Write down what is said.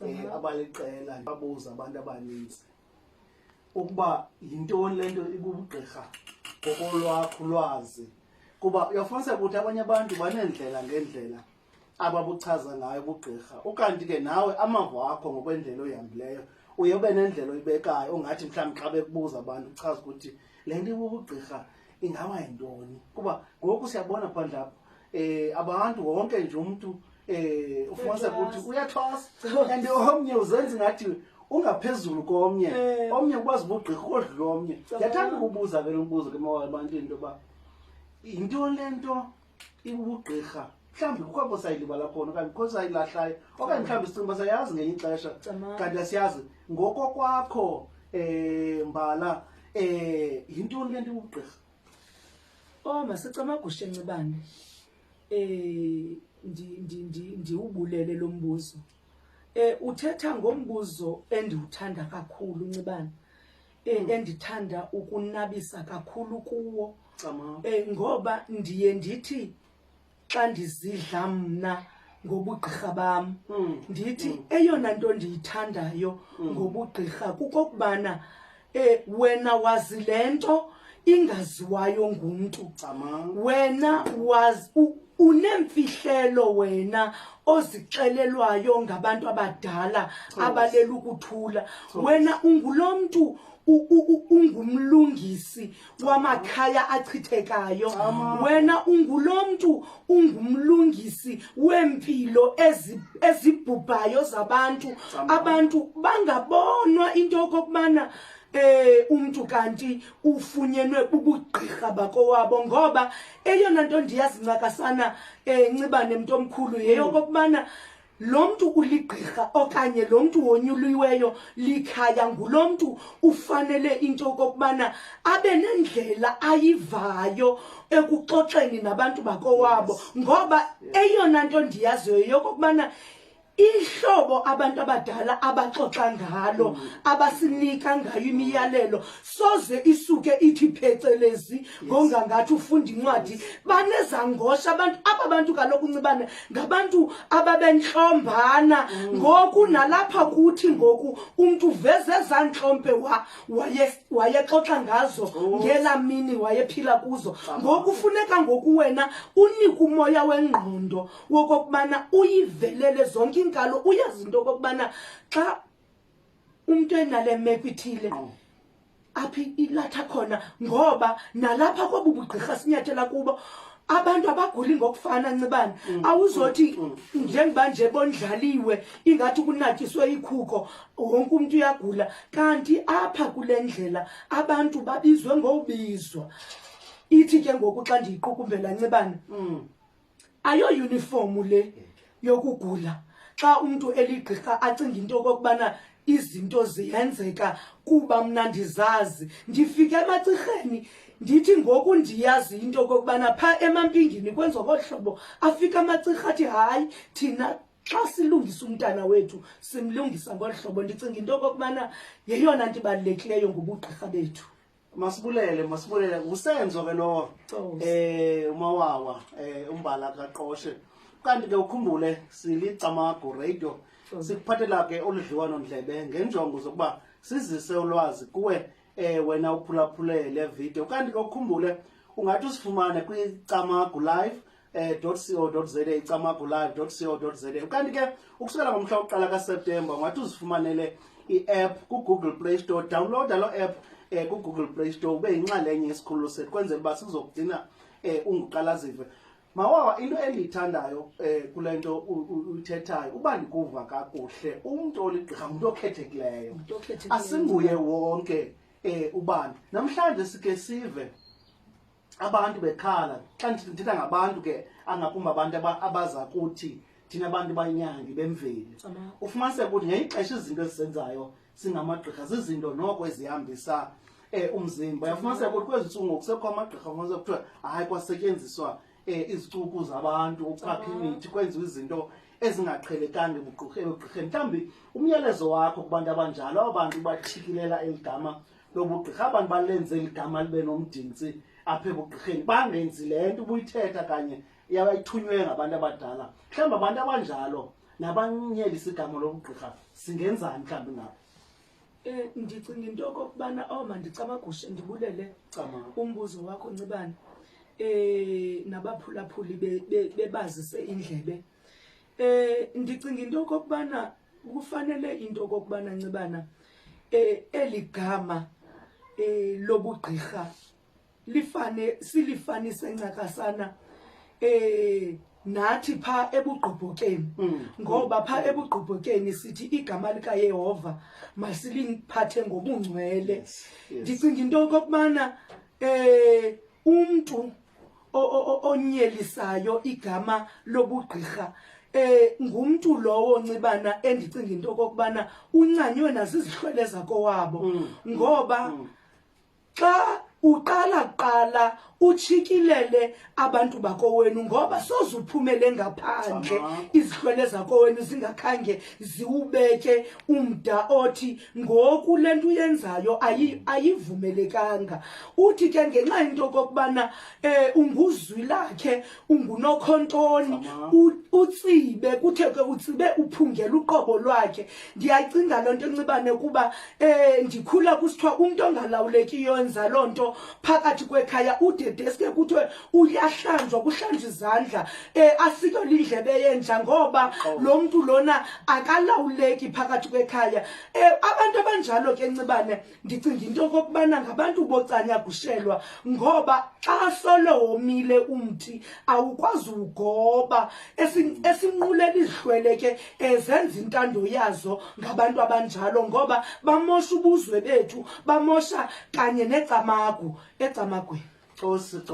um abaliqela babuza abantu abaninzi ukuba yintoni le nto ibubugqirha ngokolwakho lwazi kuba uyafuniseka ukuthi abanye abantu baneendlela ngeendlela ababuchaza ngayo ubugqirha ukanti ke nawe amava wakho ngokwendlela oyihambileyo uye ube nendlela oyibekayo ongathi mhlawumbi xa bekubuza abantu uchaza ukuthi le nto ibubugqirha ingaba yintoni kuba ngoku siyabona phandle apha um abantu wonke nje umntu eh ufumanise ukuthi uyathosa and omnye uzenza ngathi ungaphezulu komnye eh. omnye ukwazi ubugqirha kodlula omnye ndiyathanda ukubuza ke lo mbuzo ke mawala ebantwini into yoba yinto le nto ibubugqirha mhlawumbi kukho abo sayilibala khona okanye kukho sayilahlayo okanye mhlawumbi sicinga uba sayazi ngenye ixesha kanti asiyazi ngoko kwakho um mbala um yintoni le nto ibubugqirha o oh, masicamagushe ncibane eh ndi ndi ndi ndiwubulele lo mbuzo eh uthetha ngombuzo endiwuthanda kakhulu ncibana eh hmm. endithanda ukunabisa kakhulu kuwo eh ngoba ndiye ndithi xa ndizidla mna ngobugqirha bam hmm. ndithi hmm. eyona nto ndiyithandayo ngobugqirha kukokubana e wena wazi le nto ingaziwayo ngumntu wena wazi unemfihlelo wena ozixelelwayo ngabantu abadala abalela ukuthula wena ungulo mntu ungumlungisi wamakhaya achithekayo wena ungulo mntu ungumlungisi weempilo ezibhubhayo zabantu abantu bangabonwa into yokokubana eh umuntu kanti ufunyenwe ubugqirha bakowabo ngoba eyona nto ndiyazincakasana eh ncibane mntu omkhulu yeyokokubana mm. lo mntu uligqirha okanye lo mntu wonyuliweyo likhaya ngulo mntu ufanele into okokubana abe nendlela ayivayo ekuxoxeni nabantu bakowabo ngoba eyona nto ndiyaziyo yokokubana ihlobo abantu abadala abaxoxa ngalo mm. abasinika ngayo imiyalelo soze isuke ithi phecelezi ngongangathi ufunda incwadi banezangosha abantu aba bantu kaloku uncibane ngabantu ababentlombana mm. ngoku nalapha kuthi ngoku umntu uveze ezaa ntlompe wayexoxa ngazo oh. ngelaa mini wayephila kuzo ngoku funeka ngoku wena unike umoya wengqondo wokokubana uyivelele zonke iinkalo uyazi into okokubana xa umntu enale meko ithile oh. aphi ilatha khona ngoba nalapha kobu bugqirha sinyathela kubo abantu abaguli ngokufana ncibane mm, awuzothi mm, mm. njengoba nje bondlaliwe ingathi kunatyiswe ikhuko wonke umntu uyagula kanti apha kule ndlela abantu babizwe ngobizwa ithi ke ngoku xa ndiyiqukumbela ncibane ayoyunifomu le yokugula xa umntu eligqirha acinga into okokubana izinto ziyenzeka kuba mna ndizazi ndifike emacirheni ndithi ngoku ndiyazi into okokubana phaa emampingini kwenziwa kolu hlobo afike amacirha athi hayi thina xa silungisa umntana wethu simlungisa ngolu hlobo ndicinga into okokubana yeyona nto ibalulekileyo ngobugqirha bethu masibulele masibulele ngusenzo ke lowo um eh, umawawa um umbala kaqoshe kanti ke ukhumbule silicamago radio sikuphathela ke oludliwano ndlebe ngenjongo zokuba sizise ulwazi kuwe um wena uphulaphule le video kanti ke ukhumbule ungathi usifumane kwicamago live eh, co za icamagulayo co za ukanti ke ukusukela ngomhla wokuqala kaseptemba ungathi uzifumanele i-app kugoogle play store downloada loo app um eh, kugoogle play store ube yinxalenye yesikhululo sethu kwenzela uba sizokugcina um eh, unguqalazive mawawa into endiyithandayo um kule nto uyithethayo uba ndikuva kakuhle umntu oligqirha ngumntu okhethekileyo asinguye wonke um ubani namhlanje sike sive abantu bekhala xa ndithetha ngabantu ke angakumbi abantu abaza kuthi thina abantu banyangi bemveli ufumaniseka ukuthi ngeyixesha izinto ezisenzayo singamagqirha zizinto noko ezihambisa um umzimba uyafumaniseka ukuthi kwezi ntsuku ngoku sekho amagqirha ufumaniseka kuthiwa hayi kwasetyenziswa um izicuku zabantu ukuchapha imithi kwenziwa izinto ezingaqhelekanga ebugqirheni mhlawumbi umyalezo wakho kubantu abanjalo abo bantu bathikilela eli gama lobugqirha abantu balenze ligama libe nomdintsi apha ebugqirheni bangenzi le nto ubuyithetha kanye yabayithunywe ngabantu abadala mhlawumbi abantu abanjalo nabanyelisa igama lobugqirha singenzani mhlawumbi ngabo um ndicinga into okokubana o oh, mandicamagushe ndibulele umbuzo wakho ncibane um nabaphulaphuli bebazise indlebe Eh ndicinga into okokubana kufanele into okokubana ncibana eh eli gama eh lobugqirha lifane silifanise ncakasana eh nathi pha ebugqobhokeni mm. ngoba pha mm. ebugqobhokeni sithi igama likayehova masiliphathe ngobungcwele ndicinga into okokubana um umntu onyelisayo igama lobugqirha eh ngumntu lowo ncibana endicinga into kokubana uncanywe nazizihlwele zakowabo mm. ngoba mm. xa uqala kuqala uchikilele abantu bakowenu ngoba soze uphumele ngaphandle izihlwele zakowenu zingakhange ziwubeke umda othi ngoku le nto uyenzayo ayivumelekanga uthi ke ngenxa into okokubana eh unguzwi lakhe ungunokhontoni utsibe kuthe ke utsibe uphungela uqobo lwakhe ndiyacinga loo nto ncibane kuba eh ndikhula kusithiwa umntu ongalawulekiyo enza loo nto phakathi kwekhaya udedeske kuthiwe uyahlanjwa kuhlanjwa izandla eh asike lindlebe yenja ngoba lo mntu lona akalawuleki phakathi kwekhaya eh abantu abanjalo ke ncibane ndicinga into okokubana ngabantu bocanya kushelwa ngoba xa solo womile umthi awukwazi ugoba esinqulela izihlwele ke ezenza intando yazo ngabantu abanjalo ngoba bamosha ubuzwe bethu bamosha kanye necamagu ecamagweni cosi cosi